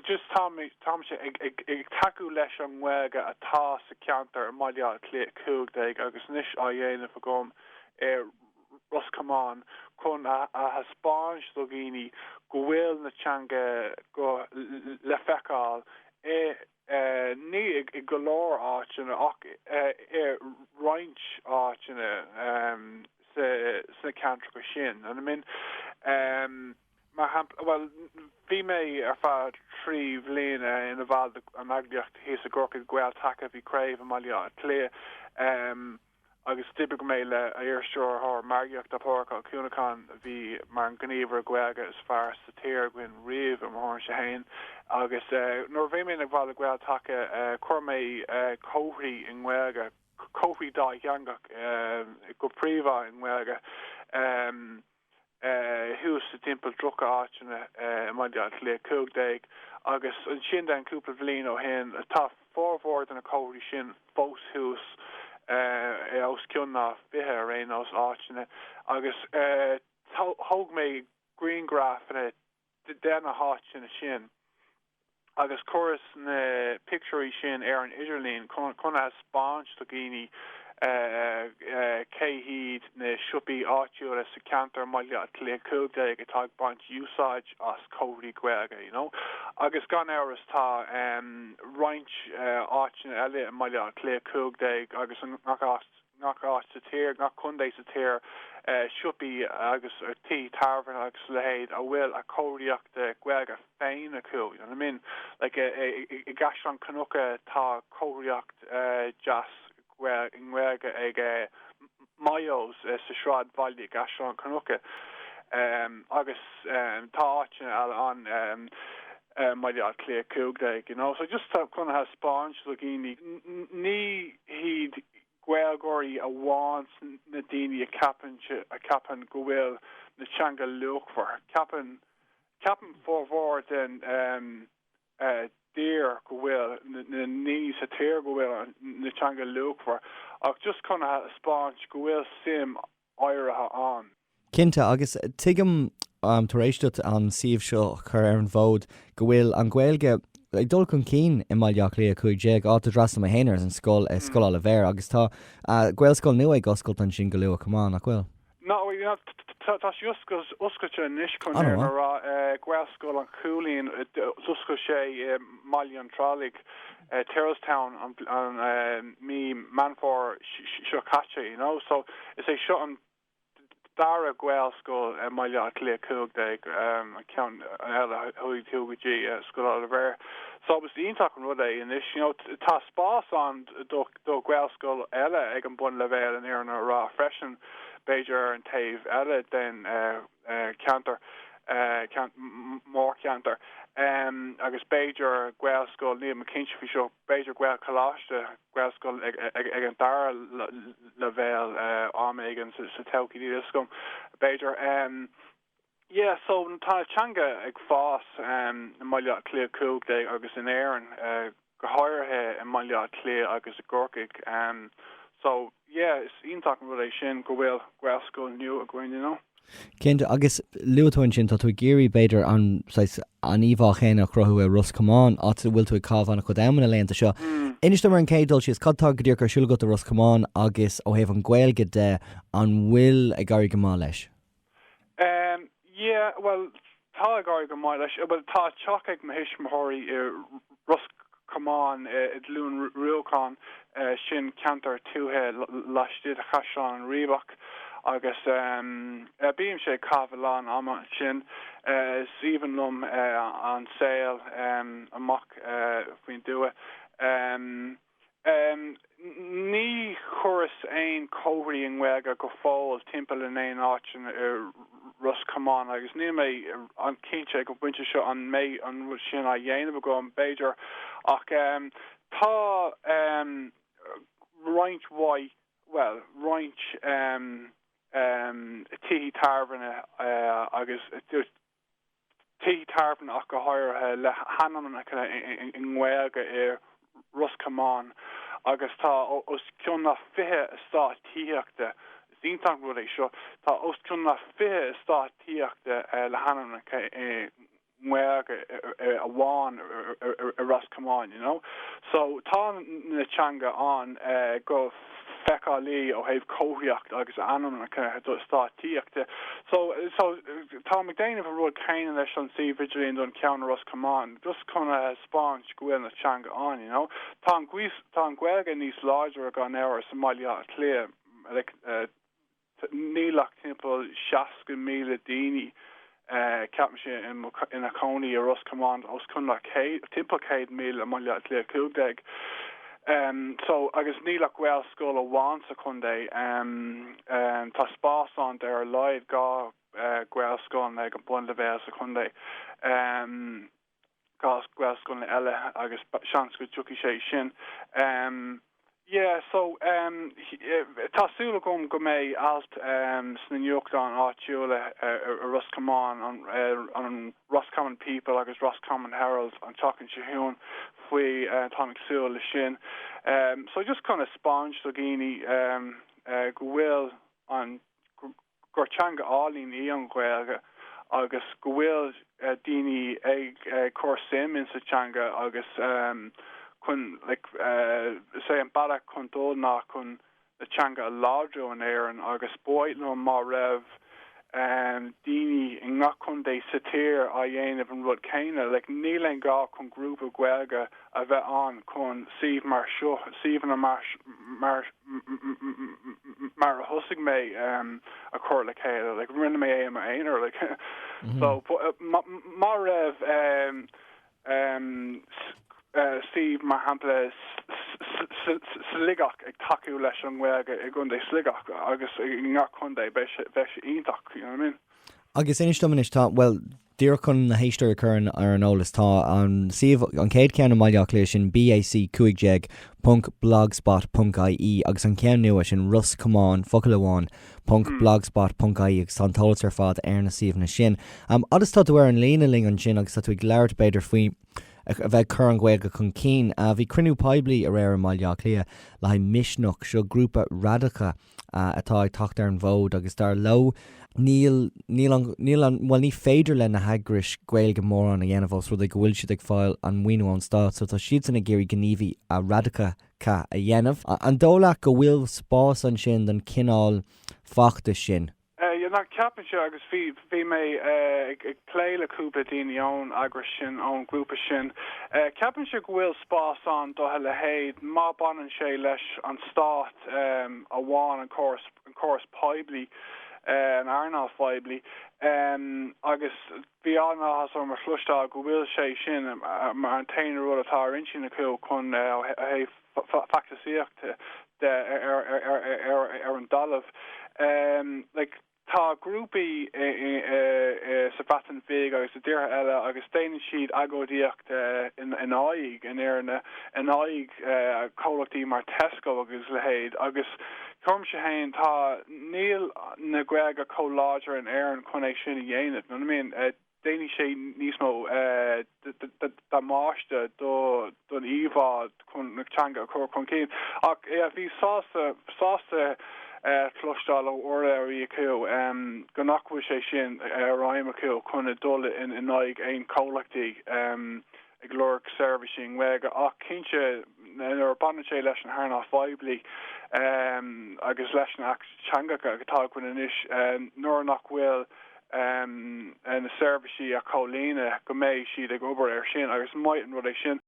just táimse ag tacú leis an nGaeilge atá sa cheantar i mBaile Átha Cliath 15 agus anois á dhéanamh agam i Ros Comáin chun a thaispeáint do dhaoine go bhfuil na teanga Gaeilge le feiceáil i ní i go leor áiteanna ach i roinnt áiteanna sna ceantracha sin. Mar shampla, bhuel, bhí mé ar feadh trí bhliana ina bhall de an eagraíocht thíos i gCorcaigh, Gael Taca, bhí craobh i mBaile Átha Cliath agus d'oibrigh mé le iarstiúrthóir margaíochta, Pádraig Ó Cuanacháin, a bhí mar an gníomhaire Gaeilge is fearr sa tír againn riamh i mo thuairimse fhéin agus nuair a bhí mé ina bhall de Gael Taca chuir mé comharthaí i nGaeilge, comharthaí dátheangach go príomhá i nGaeilge. thuas sa timpeall 30 áiteanna i mBaile Átha Cliath 15 agus ansin an cúpla bhliain ó shin tá formhór de na comharthaí sin fós thuas os cionn ná 20 ar aon nós áiteanna agus thóg mé grianghrafanna de na háiteanna sin agus chuireas na pictiúirí sin ar an idirlíon chun a thaispeáint do dhaoine cé hiad na siopaí áitiúla sa cheantar i mBaile Átha Cliath 15 atá ag baint úsáid as comharthaí Gaeilge you know agus gan amhras tá roinnt áiteanna eile i mBaile Átha Cliath 15 agus i ngach áit ngach áit sa tír, ngach contae sa tír, siopaí agus tithe tábhairne agus a leithéid a bhfuil a chomharthaíocht Gaeilge féin acu, you know what I mean? Like i gCaisleán Cnucha tá comharthaíocht deas i nGaeilge ag Myo's sa sráidbhaile i gCaisleán Cnucha agus tá áiteanna eile ann. I mBaile Átha Cliath 15 you know so just chun a thaispeáint do dhaoine ní hiad na Gaeilgeoirí amháin na daoine a ceapann a ceapann go bhfuil na teanga luachmhar ceapann ceapann formhór den um déarfainn go bhfuil na na daoine sa tír go bhfuil an teanga luachmhar ach just chun a thaispeáint go bhfuil suim áirithe ann. Cinnte, agus tuigim tar éis duit an suíomh seo a chur ar an bhfód go bhfuil an Ghaeilge ag dul chun cinn i mBaile Átha Cliath 15, áit a d'fhreastail mé féin ar an scoil, Scoil Oilibhéir, agus tá Gaelscoil nua ag oscailt ansin go luath chomh maith, nach bhfuil? Tá sí oscailte anois, chun a rá. Gaelscoil an Chuilinn, d'oscail sé i. mBaile an Tirialaigh, Tyrrelstown, an mí Meán Fómhair seo caite, you know. So is é seo an dara Gaelscoil i mBaile Átha Cliath 15, an ceann eile, uh, tugtar Scoil Oilibhéir. So is iontach an rud é anois, you know, tá spás ann do Ghaelscoil eile ag an bunleibhéal in Éirinn a rá freisin, b'fhéidir ar an taobh eile den cheantar, an mórcheantar agus b'fhéidir Gaelscoil, nílim cinnte faoi seo, b'fhéidir Gaelcholáiste, Gaelscoil ag an dara leibhéal am éigin sa todhchaí, níl a fhios agam, b'fhéidir. Yeah so tá an teanga ag fás i mBaile Átha Cliath 15 agus in Éirinn. go háirithe i mBaile Átha Cliath agus i gCorcaigh. So, yeah, is iontach an rud é sin go bhfuil Gaelscoil nua againn, you know. Cinnte, agus luaigh tú ansin, tá tú ag iarraidh b'fhéidir an saghas, an íomhá chéanna a chruthú i Ros Comáin, áit a bhfuil tú ag caitheamh an-chuid ama na laethanta seo. Inis dom ar an gcéad dul síos, cad atá go díreach ar siúl agat i Ros Comáin agus ó thaobh an Ghaeilge de, an bhfuil ag éirí go maith leis? Um yeah, bhuel, tá ag éirí go maith leis. Bhuel, tá teach ag mo thuismitheoirí i Ros Comáin, i Liúin Rúcháin, sin ceantar tuaithe lasmuigh de Chaisleán an Riabhach, agus um bímse ag caitheamh a lán ama ansin. Is aoibhinn liom an saol um amach faoin dtuath. Um. Ní chuireas aon comharthaí i nGaeilge go fóill timpeall in aon áit i Ros Comáin agus níl mé an-chinnte ag an bpointe seo an mbeidh an rud sin á dhéanamh agam, b'fhéidir, ach tá roinnt mhaith, bhuel, roinnt tithe tábhairne agus. tithe tábhairne ach go háirithe, le hainmneacha i nGaeilge i Ros Comáin agus tá os cionn na fiche eastát tithíochta, is iontach an rud é seo, tá os cionn na fiche eastát tithíochta le hainmneacha i nGaeilge amháin i Ros Comáin, you know. So tá an teanga ann go. feiceálach ó thaobh comharthaíocht agus ainmneacha eastáit tithíochta de. So, so, táim ag déanamh an rud céanna leis an suíomh idirlíon don cheann i Ros Comáin, just chun a thaispeáint go bhfuil an teanga ann, you know. Tá an, tá an Ghaeilge níos láidre gan amhras i mBaile Átha Cliath, like, Níl ach timpeall 60,000 daoine, ceapaimse, ina chónaí i Ros Comáin, tá os cionn timpeall 100,000 i mBaile Átha Cliath 15 so agus níl ach Gaelscoil amháin sa chontae. Tá spás ann d'ar a laghad dhá Ghaelscoil eile ag an bunleibhéal sa chontae. gaelscoileanna eile agus seans go dtiocfaidh sé sin um yeah so um tá súil agam go mbeidh alt sna nuachtáin áitiúla i Ros Comáin an an Roscommon People agus Roscommon Herald an tseachtain seo chugainn faoi táim ag súil le sin um so just chun a spáint do dhaoine um go bhfuil an gur teanga álainn í an Ghaeilge agus go bhfuil daoine ag cur suim in sa teanga agus chun like is é an bealach chun dul ná chun an teanga a láidriú in Éirinn agus ba mhaith liom má raibh daoine i ngach contae sa tír á dhéanamh an rud céanna like níl aon ghá chun grúpa Gaeilge a bheith ann chun suímh mar seo, suíomhanna mar a thosaigh mé, a chur le chéile. Like, rinne mé é i m'aonar. Like, so, má raibh suímh, mar shampla, Sligeach ag tacú leis an nGaeilge i gContae Sligeach agus i ngach contae, bheadh sé iontach, you know what I mean? Agus inis dom anois, tá, bhuel, Díreach chun na héisteoirí a chur ar an eolas, tá an suíomh, an chéad cheann i mBaile Átha Cliath, sin bac15.blogspot.ie, agus an ceann nua, sin Ros Comáin, focal amháin,.blogspot.ie, agus tá an t-eolas ar fad ar na suíomhanna sin. Fhad is tá tú ar an líne linn ansin agus tá tú ag labhairt, b'fhéidir, faoi a bheith ag cur an Ghaeilge chun cinn, bhí cruinniú poiblí aréir i mBaile Átha Cliath le haghaidh Misneach, seo grúpa radacach, atá ag teacht ar an bhfód agus dar leo níl níl bhuel ní féidir le na heagrais Gaeilge mórán a dhéanamh os rud é go bhfuil siad ag fáil an maoiniú ón stát so tá siadsan ag iarraidh gníomhaíochtaí radacacha a dhéanamh. An dóigh leat go bhfuil spás ansin don chineál feachtais sin? Nah, ceapaimse, agus bhí bhí mé ag ag plé le cúpla daoine ón eagras sin, ón ghrúpa sin, ceapaimse go bhfuil spás ann do a leithéid má baineann sé leis an stát amháin, an córas an córas poiblí, an earnáil phoiblí, agus Bhí an-áthas orm a chloisteáil go bhfuil sé sin mar an t-aon rud atá ar intinn acu chun ó thaobh feachtasaíocht de ar an dtalamh. Like, tá grúpaí sa Bhreatain Bhig agus i dtíortha eile agus déanann siad agóidíocht in aghaidh, in éadan, in aghaidh comhlachtaí mar Tesco agus a leithéid agus. Cuirimse, tá, níl an Ghaeilge chomh láidir in Éirinn chun é sin a dhéanamh, you know what I mean? Déanfaidh sé níos mó damáiste don íomhá chun na teanga a chur chun cinn. Ach bhí sásta, sásta cloisteáil ó urlabhraí acu nach bhfuil sé sin mar aidhm acu chun dul in aghaidh aon chomhlachtaí. ag lorg seirbhísí i nGaeilge ach cinnte nuair a bhaineann sé leis an hearnáil phoiblí agus leis na hAcht Teangacha atá againn anois, nuair nach bhfuil na seirbhísí á gcomhlíonadh go mbeidh siad ag obair air sin agus is maith an rud é sin.